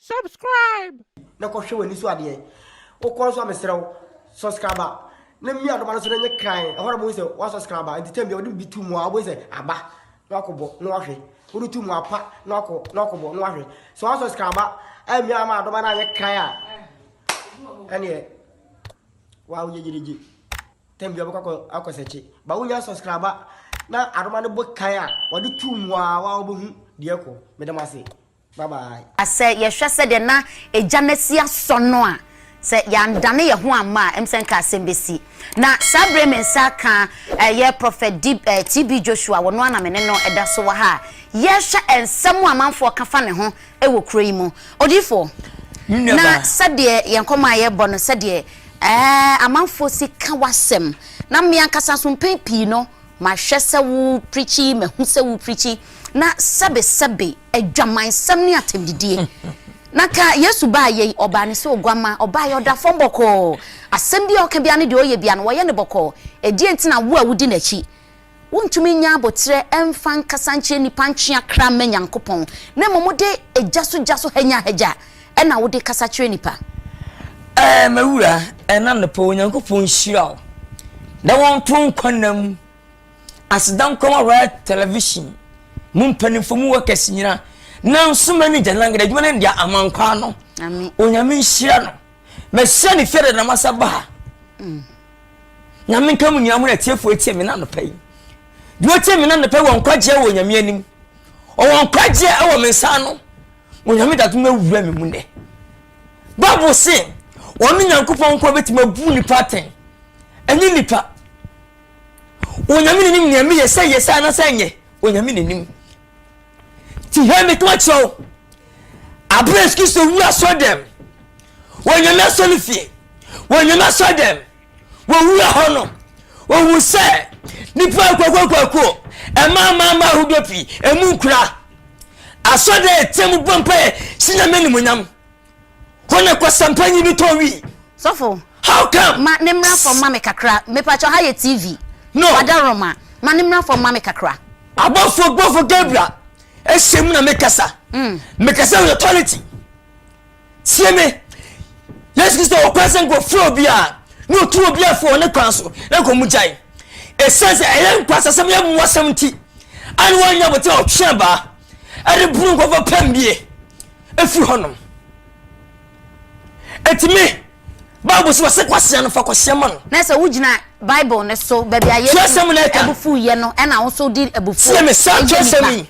Subscribe! Na kɔ hwɛ w'ani so adeɛ. Wokɔ nso a mesrɛ wo subscribe na mia adoma no so na nyɛ kran. Ɛhɔ na mo sɛ wa subscribe a nti tɛm bia wode bi tu mu a wobɛhu sɛ aba na wakɔbɔ na wahwɛ. Wode tu mu apa na wakɔ na wakɔbɔ na wahwɛ. Sɛ wa subscribe a amia ama adoma no anyɛ kran a ɛneɛ wa woyɛ gyerigye. Tɛm bia wobɛkɔ akɔ sɛkye. Ba wonya subscribe a na adoma no bɔ kan a wade tu mu a wa wobɛhu deɛ kɔ. Meda mo ase. Bye bye. Sɛ yɛhwɛ sɛdeɛ na Agya no asi asɔ no a, sɛ yɛandane yɛn ho amma a, ɛm sɛ nka asɛm bɛsi. Na saa berɛ yi me nsa aka ɛyɛ Prophet Dib, eh, TB Joshua, wɔno ara na me ne no da so wɔ ha a yɛrehwɛ nsɛm a amanfoɔ ka fa ne ho wɔ kuro yi mu. Odiyifoɔ, Me nua na baa. sɛdeɛ yɛn nkɔmmɔ a yɛrebɔ no, sɛdeɛ, eh, amanfoɔ si ka w'asɛm, na me ankasa nso mpɛn pii no, Mahwɛ sɛ wo preachi mahu sɛ wo preachi na sɛbe sɛbe adwamansɛm ne atɛmdidie na ka Yesu baa yei ɔbaa ne sɛ oguamma ɔbaa yɛ ɔda fam bɔkɔɔ asɛm bia ɔka bia ne deɛ ɔyɛ bia no wɔyɛ no bɔkɔɔ ɛdeɛn nti na wo a wodi n'akyi wontumi nya aboterɛ ɛmfa nkasa nkyerɛ nnipa ntwea kra mma Nyankopɔn na mmom wode gya so gya so hanya hagya Ɛna wode kasa kyerɛ nnipa. Ɛɛ mawura ɛna anɔpa Onyankopɔn nhyira wo na wɔnto nkwa nna mu aseda nkɔma Royal Television mu mpanimfo mu workers nyina na nso manager nangada adwuma no ndia amankwa ano Onyame nhyira no mahyia ne fie dada masa ba ha mm. Nyame nka mu nua mu na atiefoɔ atie me na anɔpa yi deɛ ɔtie me na anɔpa yi wɔ nkwagyeɛ wɔ Onyame anim ɔwɔ nkwagyeɛ ɛwɔ me nsa ano Onyame da adom awura me mu nnɛ. Bible se ɔno Nyankopɔn nko bɛtumi abu nnipa atɛn, ɛnyɛ nnipa. Onyame n'anim nea meyɛ sɛ yɛ sɛ anasɛ nyɛ, Onyame n'anim. Ti hɛ me kama kyerɛ wo, abere Yesu Kristo wu asɔ dɛm, Onyame asɔ ne fie, Onyame asɔ dɛm. wɔwura hɔ no wɔhu sɛ nnipa akuakuakuakuo ɛma amaama ahodoɔ pii ɛmu nkura asɔ dɛ ɛtɛ mu bɔ mpaeɛ si nyame animonyam hɔ na kwasampa nyi bi tɔ wii sɔfo how come ma ne mmra fam ma me kakra mepakyɛ ha yɛ tv no wada roma ma ne mmra fam ma me kakra abɔfo bɔfo gabriel ɛhyɛ mu na mekasa mekasa with authority tie me yesu kristo wɔ kwan sɛ nkɔfrɛ obi a na ɔtu obi afo wɔ ne kwan so na nkɔ mu gyae ɛsiane sɛ ɛyɛ nkwasasɛm yɛ mmoasɛm nti a ne wɔanya bote a ɔtwe abaa ɛde bunu nkɔfɔ pɛm bie ɛfiri hɔnom ɛtumi bible so wɔsɛ kwasea no fa kwasea ma no na sɛ wogyina bible no so baabi a yɛsɛm no ɛka ɛbufu yɛ no ɛna wo so di ɛbufu yɛ me saa kyerɛsɛm yi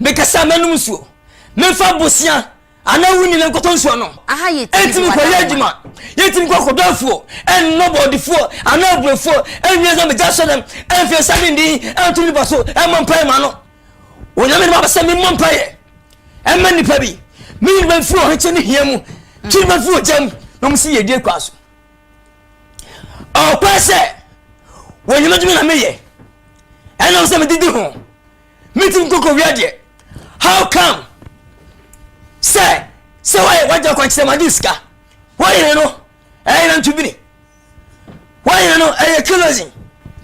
Mekasa a, mɛnom nsuo. Memfa bosea anaa wo nyina nkɔtɔ nsuo anom. Ɛntumi nkɔyɛ adwuma. Yɛntumi nkɔ akɔdɔ afuo, ɛnnɔ bɔɔdefuo anaa aburofuo, ɛnwie sɛ megya sɔ dɛm, ɛmfa nsa ne ndin, ɛnto nipa so, ɛmmɔ mpaeɛ ma no. Onyame de maba sɛ memmɔ mpaeɛ ɛma nipa bi. Meyi nipa mfiri ɔhekye ne hia mu, twi nipa mfiri ogya mu, na wɔn si yɛdie kwa so. Ɔkwa sɛ wɔnyamedwuma na meyɛ, ɛnam sɛ medidi ho. metim nkokowia deɛ how come sɛ sɛ wɔyɛ wagya kwankyerɛ ma de sika wɔyere no ɛyɛ na ntubini wɔyere no ɛyɛ kerosene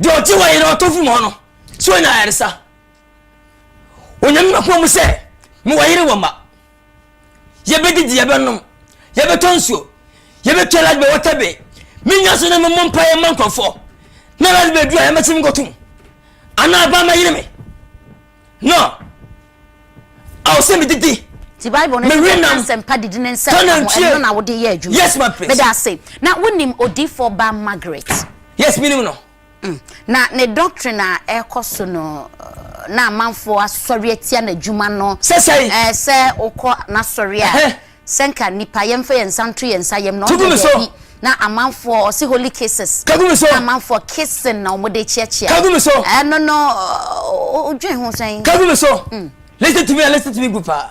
deɛ ɔte wɔyere ɔtɔ firi mu hɔ no so ɔnya ayaresa onyame mapoma mu sɛ mewɔ yere wɔ ma Yɛbɛdidi, yɛbɛnom, yɛbɛtɔ nsuo, yɛbɛtwa light bɛ water bay. Menya so na memmɔ mpaeɛ mma nkurɔfoɔ. Na light bay duru a yɛmɛte me nkɔtom. Anaa aba ma yere me. No. Awo sɛ medidi. Ti Bible no sɛ ka nsɛmpa didi ne nsɛm ka ho ɛno na wode yɛ adwuma. Yes ma please. Meda ase. Na wonim odifoɔ ba Margaret? Yes menim no. Mm, na ne doctrine a ɛrekɔ so no, na amanfoɔ asɔre atia n'adwuma no. Sɛsɛe. Ɛɛ eh, sɛ wokɔ n'asɔre a, sɛ nka nipa yɛmfa yɛn nsa nto yɛn nsa yam na ɔde daabi na amanfoɔ ɔse holy cases. Kagumi so. Na amanfoɔ kissing na wɔn de kyeakyea. Kagumi so. Ɛno no, odwen ho sɛn. Kagumi so. Mm. Listen to me, listen to me group a.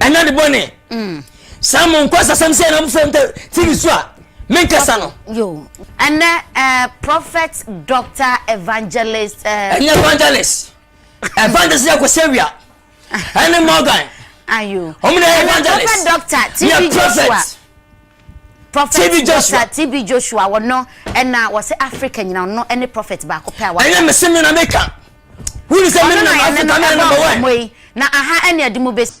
ɛna de bɔne mm. saa mo nkɔ sasɛm sɛ ɛna mofrɛ m tɛ tv so a menkasa no ɛnɛ eh, prophet doctor evangelist eh, ɛnyɛ evangelist evangelist yɛ kɔsɛ wia ɛne morgan ɔmne evangelist yɛ prophet Prophet Doctor TB Joshua wɔno ɛna wɔsɛ Africa nyina ɔno ɛne prophet baako pɛ a wɔka. Ɛnyɛ mese me na meka. Wuni sɛ me nam Africa na ɛna bɛwɛ. Na aha ɛne ɛde mu besi.